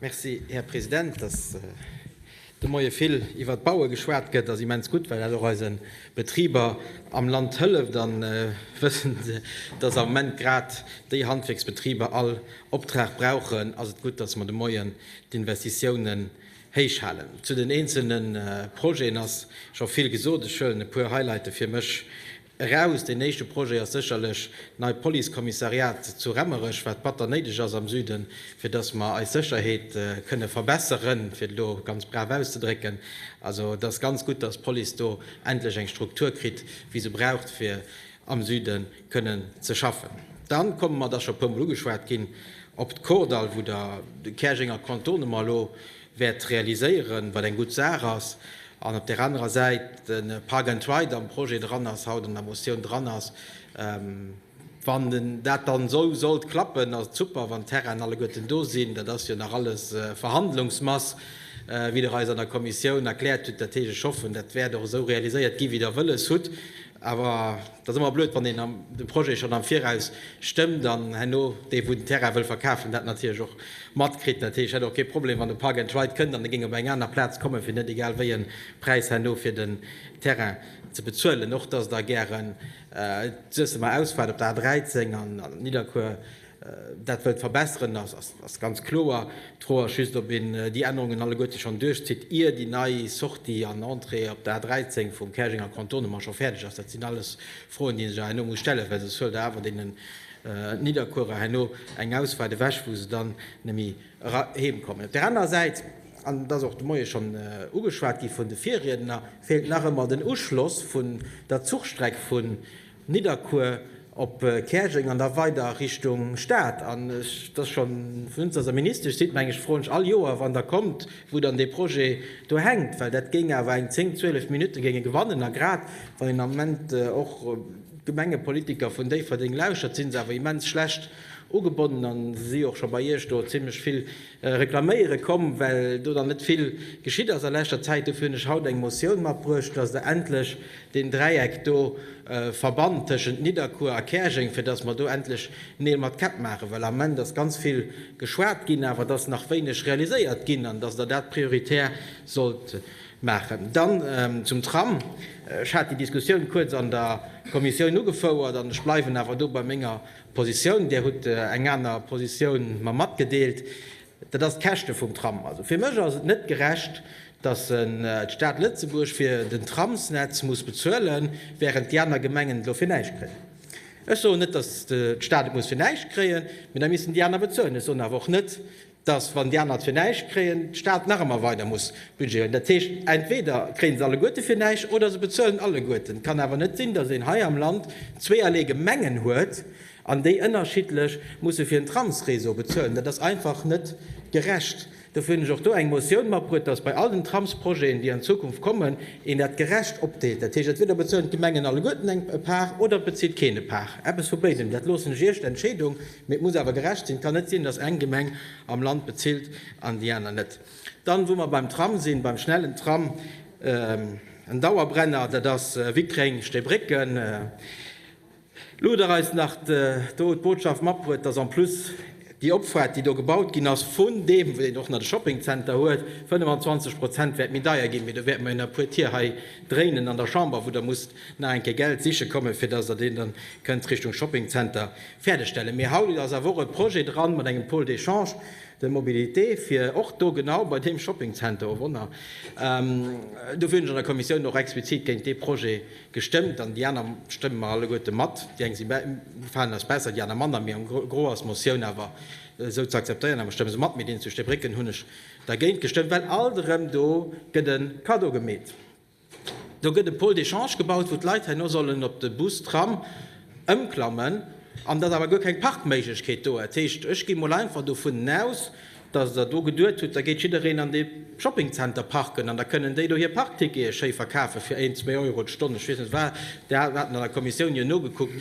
Merci, Här President. Dass de Moie vill iwwert d'Baue geschwat gëtt, ass immens gutt, well dat och eise Betriber am Land hëlleft. A wëssend, dass am Moment grad déi Handwierksbetriber all Optrag brauchen, ass et gutt, dass mer de Moien d'Investitiounen héich halen. Zu den eenzelne Projeten ass scho vill gesot. Ech huelen e puer Highlighte fir mech Eraus. Deen éischte Projet ass sécherlech d'neit Policekommissariat zu Remmerech, wat batter néideg ass am Süden, fir dass mer eis Sécherheet kënne verbesseren, fir et elo ganz brav auszedrécken. Also et ass ganz gutt, dass d'Police do endlech eng Struktur kritt, wéi se braucht, fir am Süden kënnen ze schaffen. Dann komme mer, et ass scho e puermol ugeschwat ginn, op d'Kordall, wou Der Käerjenger Contournement elo wäert realiséieren, wat eng gutt Saach ass, an op där anerer Säit de Park and Ride am Projet dran ass, haut an der Motioun dran ass. Wann dat dann esou sollt klappen, ass et super, wann d'Terrainen alleguerten do sinn. Dat ass jo nach alles Verhandlungsmass, wéi Der eis an der Kommissioun erkläert hutt. Dat heescht, ech hoffen, dat wäert och esou realiséiert gi wéi Der wëlles hutt. Awer T'ass ëmmer blöd wann een de Projet schonn am Viraus stëmmt an herno dee wou den Terrain wëll verkafen dat natierlech och matkritt. Dat heescht, ech hätt och kee Problem wann de Park and Ride kënnt an e géing op eng aner Plaz kommen fir net egal wéi e Präis herno fir den Terrain ze bezuelen. Och dass der gären d'Suessemer Ausfahrt op der A 13 an Nidderkuer Dat wëllt verbesseren, ass ganz kloer. D'Fro ass just, ob een déi Ännerungen alleguerte schonn duerchzitt, ier déi nei Sortie an Entrée op der A13 vum Käerjenger Contournement scho fäerdeg ass. Dat sinn alles Froen, déi ee sech awer herno muss stellen, well soss huelt Der awer deenen Nidderkuerer herno eng Ausfahrt ewech, wou se dann net méi eram kommen. Op där anerer Säit, an et ass och de Moie schonn ugeschwat gi vun de Virriedner, feelt nach ëmmer den Uschloss vun der Zuchstreck vun Nidderkuer op Käerjeng an da weider Richtung Stad. An ech, et ass schonn vun Ënz, datt Der Ministesch sidd, meng ech, froen ech all Joer, wann Der kommt, wou dann dee Projet do hänkt, well dat géing awer eng zéng, zwielef Minutte géing e gewannen. A grad wann een am Moment och d'Gemengepolitiker vun Déifferdeng lauschert, si se awer immens schlecht ugebonnen a si si och scho bei Iech do zimlech vill Reklaméiere komm, well do dann net vill geschitt ass a leschter Zäit. Dofir hunn ech haut eng Motioun matbruecht, dass Der endlech deen Dräieck do verbannt tëschent Nidderkuer a Käerjeng, fir dass mer do endlech Neel mat Käpp maachen. Well am Ament ass ganz vill geschwat ginn, awer et ass nach wéineg realiséiert ginn. An dass Der dat prioritär sollt maachen. Dann zum Tram. Ech hat déi Diskussioun kuerz an der Kommissioun ugefouert an ech bleiwen awer do bei menger Positioun, Dir hutt eng aner Positioun mer matgedeelt, dat ass d'Käschte vum Tram. Also fir mech ass et net gerecht, datt d'Stad Lëtzebuerg fir den Tramsnetz muss bezuelen, während déi aner Gemengen dofir näischt kréien. Ech soen net, datt d'Stad et muss fir näischt kréien, mee da missten déi aner bezuelen. Ech soen awer och net, dass, wann déi aner zwee näischt kréien, de Staat nach ëmmer weider muss budgéieren. Dat heescht, entweder kréie se alleguerte fir näischt oder se bezuelen alleguerten. Et kann awer net sinn, dass een hei am Land zweeërlee Gemengen huet an déi ënnerschiddlech musse fir en Tramsreseau bezuelen. Dat ass einfach net gerecht. Dofir hunn ech och do eng Motioun matbruet, dass bei all den Tramsprojeten, déi an Zukunft kommen, een dat gerecht opdeelt. Dat heescht, entweder bezuelen d'Gemengen alleguerten eng Part oder et bezilt keen e Part. Eppes vu béidem. Dat loossen ech Iech, d'Entscheedung. Mee et muss awer gerecht sinn. Et kann net sinn, dass eng Gemeng am Land bezilt an déi aner net. Dann, wou mer beim Tram sinn, beim schnellen Tram, en Dauerbrenner, dat ass Wickreng, Stéibrécken. Luder eis nach do d'Botschaft mat bruet, dass en plus déi Opfahrt, déi do gebaut ginn ass, vun deem, wat een och nach de Shoppingzenter huet, 25 Prozent wäert méi deier ginn. Mee do wäerte mer jo nach e puer Tier hei dréinen an der Chamber, wou Der musst nach eng Kéier Geld siche kommen, fir dass Der deen dann kënnt Richtung Shopping Center fäerdegstellen. Mee haut ass awer och e Projet dran mat engem Pôle d'échange de mobilité, fir och do genau bei deem Shopping Center, o Wonner, dofir hunn ech an der Kommissioun och explizit géint dee Projet gestëmmt an déi aner stëmme mer alleguerte mat, déi eng si, gefalen eis besser, déi aner manner, mee am Gros ass d'Motioun awer esou ze akzeptéieren a mer stëmme se mat. Mee deen zu Steebrécken hunn ech dergéint gestëmmt, well alt erëm do gëtt e Kaddo gemeet. Do gëtt e Pôle d'échange gebaut, wou d'Leit herno sollen op de Bus, Tram ëmklammen. An et ass awer guer keng Parkméiglechkeet do. Dat heescht, ech gi mol einfach dovun aus, dass Der do geduet hutt, da gétt jiddereen an dee Shoppingzenter parken an da kënnen déi do hir Parktickete schéi verkafe fir een, zwee Euro d'Stonn. Ech weess net, wat Der hat, wat een an der Kommissioun jo nogekuckt.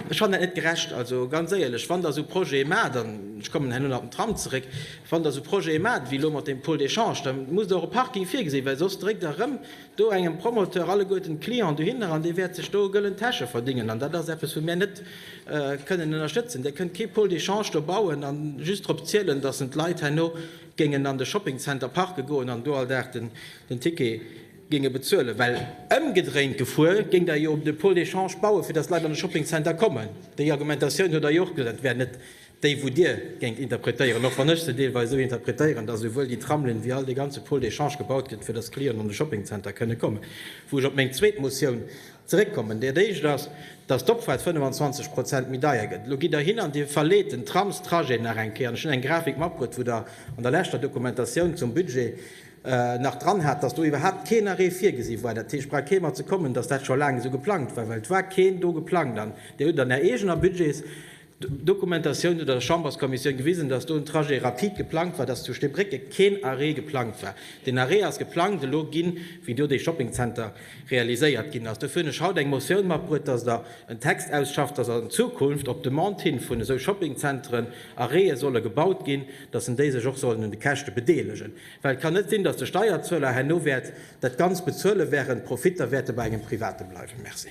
Ech fannen dat net gerecht. Also ganz éierlech, wann Der esou Projete maacht, an ech kommen herno nach op den Tram zeréck, wann Der esou Projete maacht wéi elo mat deem Pôle d'échange, da musst Der och e Parking virgesinn, well soss dréckt Der erëm do engem Promoteur alleguerten d'Clienten dohinner an dee wäert sech do gëllen Täsche verdingen. An dat ass eppes, wou mir net kënnen ënnerstëtzen. Der kënnt kee Pôle d'échange do bauen a just drop zielen, dass en d'Leit herno géingen an de Shoppingcenter parke goen an do all Dag den Ticket géinge bezuelen, well ëmgedréint gefuer géingt Der jo de Pôle d'échange bauen, fir datt Leit an de Shopping Center kommen. Déi Argumentatioun huet Der jo och gesat. Et wär net déi, wou Dir géingt interpretéieren, och wann ech se deelweis esou interpretéieren, datt esouwuel déi Tramlinn wéi all dee ganze Pôle d'échange gebaut gëtt, fir datt Clienten an de Shopping Center kënne kommen. Wou ech op meng zweet Motioun zeréckkommen. Dat Éischt ass, datt d'Opfahrt 25 Prozent méi deier gëtt. Elo gitt Der hin an Dir verleet den Tramstrajet nach eng Kéier. An ech hunn eng Grafik matbruet, wou Der an der leschter Dokumentatioun zum Budget, nach dran hat, dass do iwwerhaapt keen Arrêt virgesi war. Dat heescht, brauch kee mat ze kommen, dass dat scho laang esou geplangt war, well et war keen do geplangt. An Dir hutt an Är eegener Budgetsdokumentatioun oder der Chamberskommissioun gewisen, dass do en Trajet rapide geplangt war, dass zu Steebrécke keen Arrêt geplangt war. Deen Arrêt ass geplangt elo ginn, wéi do dee Shoppingzenter realiséiert ginn ass. Dofir hunn ech haut eng Motioun matbruet, dass Der en Text ausschafft, dass an Zukunft op Demande hin vun esou Shoppingzenteren Arrête solle gebaut ginn, dass en déi sech och sollen un de Käschte bedeelegen. Well et kann net sinn, datt de Steierzueler herno wäert dat Ganzt bezuele während d'Profitter wäerte bei engem Private bleiwen. Merci.